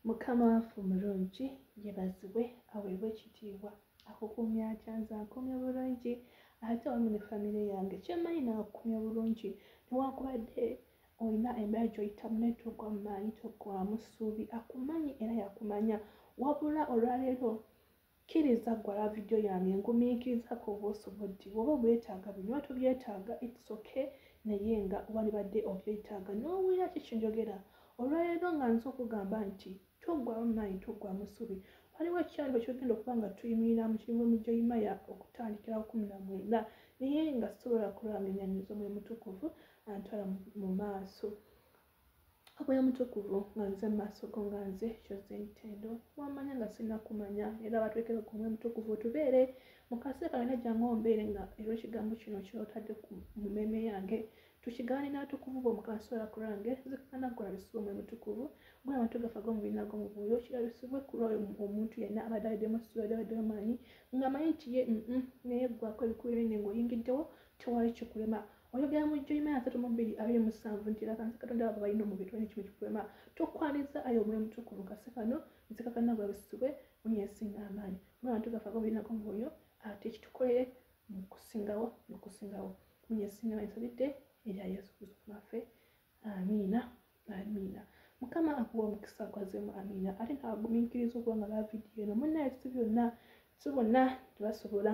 mukama waffe omulungi yebazibwe aweebwa ekitiibwa akukumya atya nze akumya bulungi ate wamu ne famire yange kyemanyi naakukumya bulungi newakubadde olina embeera gyoyitamu naye togwa mumaanyi togwamu ssuubi akumanyi era yakumanya wabula olwaleero kkiriza ggwe ala vidiyo yange ngumiikiriza ku obusoboddi bwoba obwetaaga binywa tobyetaaga its okay naye nga walibadde obyetaaga n'owulira ki kinjogera olwaleero nga nza okugamba nti toggwamu maanyi toggwamu subi waliwo ekikyalo ekyogenda okuba nga tuyimirira mu kirimu mijoyimaya okutandikira kumi na mwenda naye nga sobola kulwanga enyanyiza omuli mutukuvu antwala mu maaso akoya mutukuvu nga nze mumaaso go nga nze kyoze ntendo wamanya nga sirina kumanya era batwekere ku mwe mutukuvu otubeere mukase kalina jangu ombeere nga era ekigambo kino kyotadde ku mumeme yange tukigaane n'abatukuvu b'omukansoola ku lwange zikana kulabisibwa omwe mutukuvu gwe abantu gafa g'omubina gw'omubuuyo kirabisibwe ku lwoyo omuntu yenna abadde aweddemu essuula yadde aweddemu amaanyi ng'amanyi nti ye naye ggwako ebikulu ebinne ng'oyingiddewo tewali kikulema oyogera mu jjo imaya asatu mu bbiri abiri mu ssanvu nti era kanisa katonda abo balina omubiri tolina kimu kikuwema tokwaniza ayo omwoyo mutukuvu kasi kano nzikakana bwebusibwe muli esinga amaanyi mwe abantu gafe agobirinako omwoyo ate kitukolere mukusingawo mukusingawo muli esinga amaanyi nsabidde erya yesu kristo maffe amiina amiina mukama akuwa omukisa akwazemu amiina ate naagumiikiriza okuba nga bavidiyo eno munaye si byonna si bonna tebasobola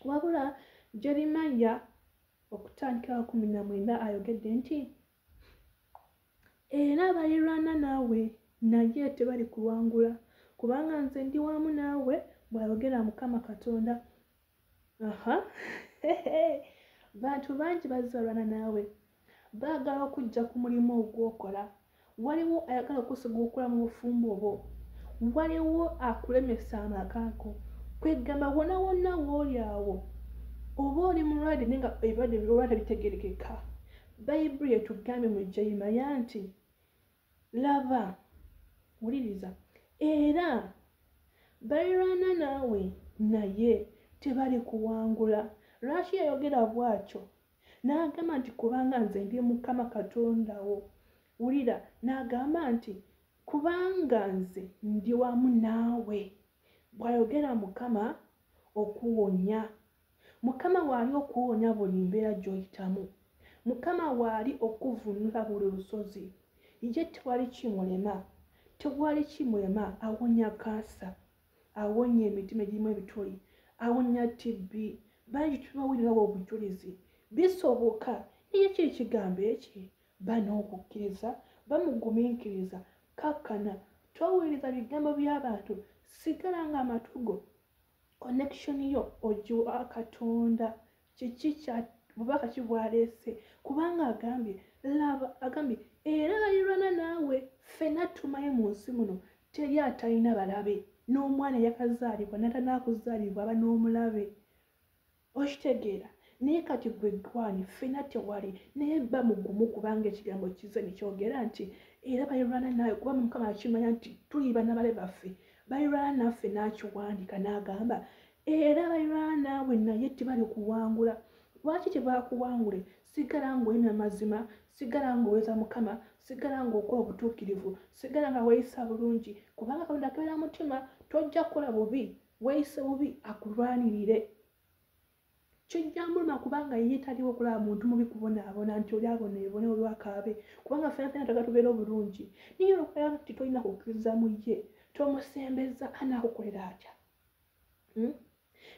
wabula jerimaya okutandikira kumi na mwenda ayogedde nti era abalirwana naawe naye tebali kuwangula kubanga nze ndi wamu naawe bw'ayogera mukama katonda aha bantu bangi bazalwana naawe baagala okujja ku mulimu ogwokola waliwo ayagala okusigukula mu bufumbo obwo waliwo akulemesa amakaako kwegamba wona wonna wooli awo oba oli mulwadde naye nga ebirwadde birola tebitegerekeka bayibuli etugambye mu jeyimaya nti laba wuliriza era balirwana naawe naye tebali kuwangula lwaki yayogera bwatyo n'agamba nti kubanga nze ndi mukama katonda wo wulira n'agamba nti kubanga nze ndi wamu naawe bw'ayogera mukama okuwonya mukama waali okuwonya buli mbeera gy'oyitamu mukama waali okuvunula buli lusozi ye tewali kimulema tewali kimulema awonya kansa awonya emitima egirimu ebituli awonya tibbi bangi tubawulirawo obujulizi bisoboka naye kiri kigambo eki bana okukkiriza bamugumiikiriza kakkana towuliriza bigambo by'abantu sigala nga amatugo connection yo ogiwa katonda kiki kya bubaka ki bwaleese kubanga agambye laba agambye era balirwana naawe ffena tumaye mu nsi muno teri atalina balabe n'omwana eyakazaalibwa natanaakuzaalibwa aba n'omulabe okitegeera naye kati gwe gwani ffena tewali naye ba mugumu kubanga ekigambo kize nekyogera nti era balirwana naawe kuba mukama akimanya nti tuliba nabale baffe balirwana naffe n'akiwandika n'agamba era balirwana naawe naye tibali kuwangula lwaki tebakuwangule sigala ngaoli namazima sigala ngaoweza mukama sigala ngaokola obutuukirivu sigala nga weyisa bulungi kubanga katonda keera mutima tojja kukola bubi weyise bubi akulwanirire kijja muluma kubanga ye taliwo okulaba muntu mubi kubonaabona nti oli abonaebone olwakaabe kubanga fena fena taga tubeera obulungi naye olwokulaba nti tolina kukkiriza mu ye tomusembeza anaakukolera atya hmm?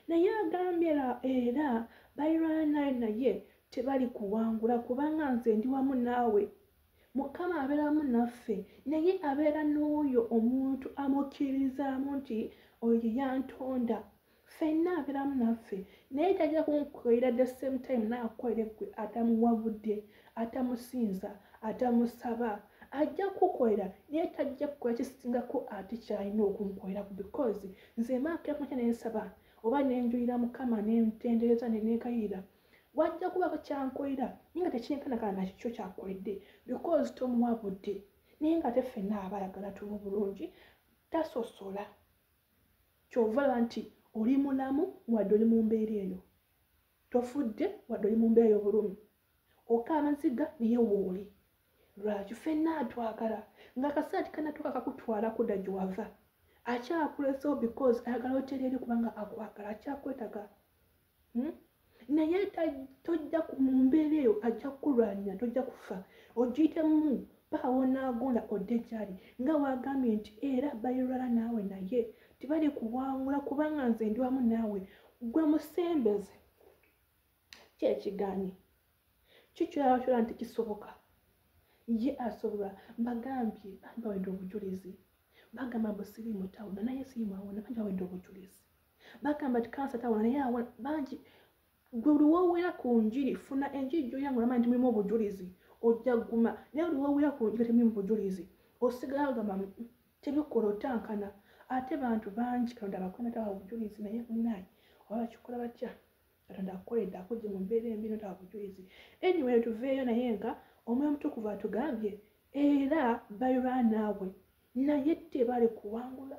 naye agambye era bairana naye tebali kuwangula kubanga nze ndi wamu naawe mukama abeeramu naffe naye abeera n'oyo omuntu amukkiririzaamu nti oyo yantonda fenna abeeramu naffe naye tajja kunkukolera the same time naakukolere gwe atamuwabudde atamusinza atamusaba ajja kukukolera naye tajja kukola kisingako ate kyalina okunkoleraku because nze maakemunya nensaba oba nenjulira mukama nentendereza nenekayira wajja kubako kyankolera naye nga tekinkanakana nakikyo kyakoledde because tomuwa budde naye nga te fenna abalagala tumu bulungi tasosola kyova laba nti oli mulamu wadde oli mu mbeera eyo tofudde wadde oli mu mbeera ey'obulumi oka amaziga naye wooli lwaki fenna atwagala nga akasaati kanatuka kakutwala kuda gyewava akyakulesa because ayagala otereere kubanga akwagala akyakwetaga hmm? naye tojja mu mbeera eyo ajja kukulwanyira tojja kufa ogiyitemu paka wonaagonda odde gyali nga wagambye nti era bayirwala naawe naye tibali kuwangula kubanga nze ndi wamu naawe gwe musembeze kyekiganyi kikyoyawakyola nti kisoboka ye asobola mbagambye bambi bawedde obujulizi bagamba mbu siri mutawuna naye siri mwawona bangi bawedde obujulizi bagamba nti kansa tawona naye awona bangi gwe luwowera ku njiri funa enjiri gyoyanga olamanyi nti mulimu obujulizi ojja guma naye luwowera ku njiri temulimu bujulizi osigala ogamba mm, mm, tebikola otankana ate bantu bangi kalonda bakwena tawa obujulizi naye munaye oba bakikola batya katonda akukoledde akujje mu mbeera embi notaba bujulizi anyway tuveeyo naye nga omwoyo omutukuvu atugambye era balirwa naawe naye tebali kuwangula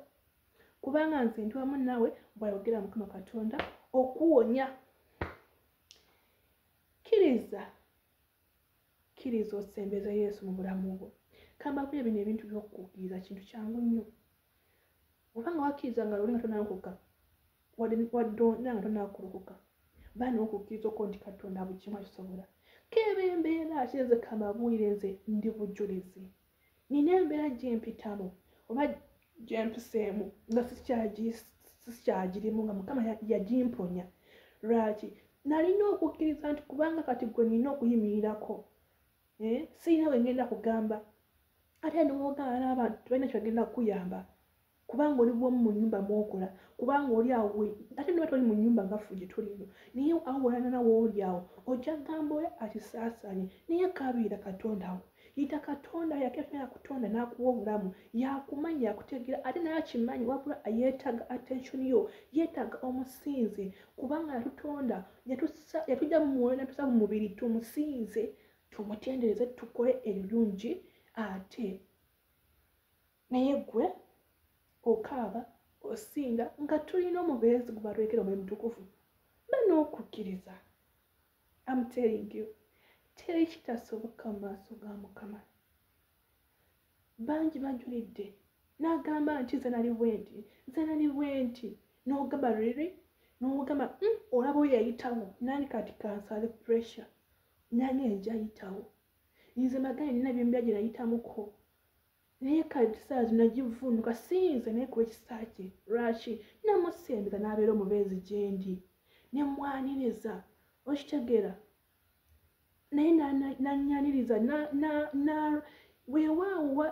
kubanga nze ndi wamu naawe bwayogera mukama katonda okuwonya kkiriza kkiriza osembeza yesu mu bulamu bwo kambaku ebino ebintu byokukkiriza kintu kyangu nnyo obanga wakkiriza nga luli nga tonankuka wadonda nga tonakulokoka baana okukkiriza okwo nti katonda bukimu akisobola keeba embeera ate nze kamabwire nze ndi bujulizi nina embeera gyempitamu oba gyempiseemu nga sikyagirimu nga mukama yagimponya lwaki nalina okukkiriza nti kubanga kati gwe nina okuyimirirako eh, sirina wengenda kugamba ate nowogaana abantu tebalina kyebagenda kukuyamba kubanga oli bwomu mu nyumba mwokola kubanga oli awo ate niba toli mu nyumba nga fuje tolino naye awo wolanana wooli awo ojja gamba oyo akisaasanye naye kabiira katonda wo yita katonda yakefuna yakutonda nakuwa obulamu yakumanya yakutegeera ate naye akimanyi wabula yeetaaga attention yo yeetaaga omusinze kubanga yatutonda yatujja mu mwoyo natusa mu mubiri tumusinze tumutendereze tukole ebirungi ate naye gwe okaaba osinda nga tulina omubeezi gubalwekera omwe mutukuvu banokukkiriza amtelingu teri kitasoboka mu maaso ga mukama bangi bajulidde n'agamba nti nze nali bwenti nze nali bwenti n'ogamba riri n'ogamba hmm, olaba oyo yayitawo nani kati kansale pressure nani enjayitawo nze magani nina byembya gye nayitamuko naye kale ekisaala kino nagivunuka siyinza naye kuba ekisaala kye lwaki namusembeza n'abeera omubeezi gyendi ne mwaniriza okitegeera naye nanyaniriza weewaawowa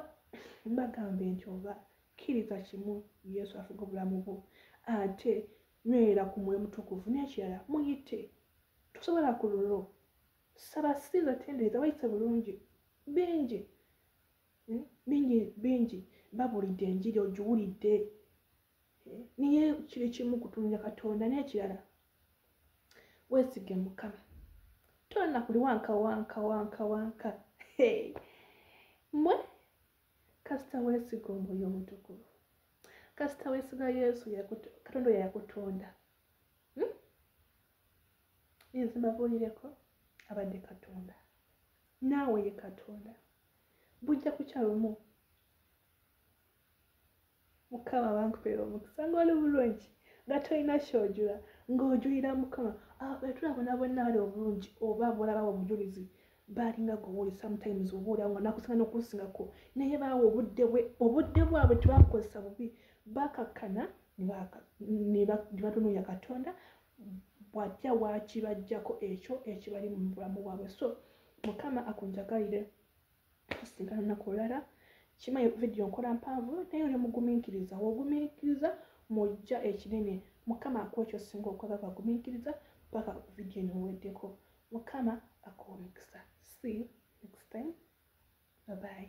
mbagambe nti oba kkiriza kimu yesu afuga obulamu bwo ate nywera ku mwoyo mutukuvu n'ekirala muyite tosobola ku lulwo saba sinza tendereza wayise bulungi bingi hmm? bingi bingi babulidde enjiri ogiwulidde eh? naye kiri kimu kutumira katonda n'ekirala weesige mukama tonna kuli wanka wanka wanka wanka mwe kasita weesiga omwoyo omutukuvu kasita weesiga yesu katonda oyo yakutonda hmm? nze mbabuulireko abadde katonda naawe ye katonda bujja kukya lumu mukama bankupera omukisa nga oli bulungi nga tolina kyojula ng'ojulira mukama betulabona ah, bonna bali obulungi oba bolabawo obujulizi balinga gowuli sometimes obuulira nga nakusinga nokunsingako naye baawa obudde bwe obudde bwabwe tebakukozesa bubi bakakkana nebatunuya katonda bwatya wakibajjako ekyo ekibali mu bulamu bwabwe so mukama akunjagalire tusigala naku olala kima vidiyo nkola mpanvu naye oli mugumiikiriza wogumiikiriza mujja ekinene mukama akuwa ekyo singa okwaga kwagumiikiriza paka vidiyo niweddeko mukama akuwa omukisa see you next time babayi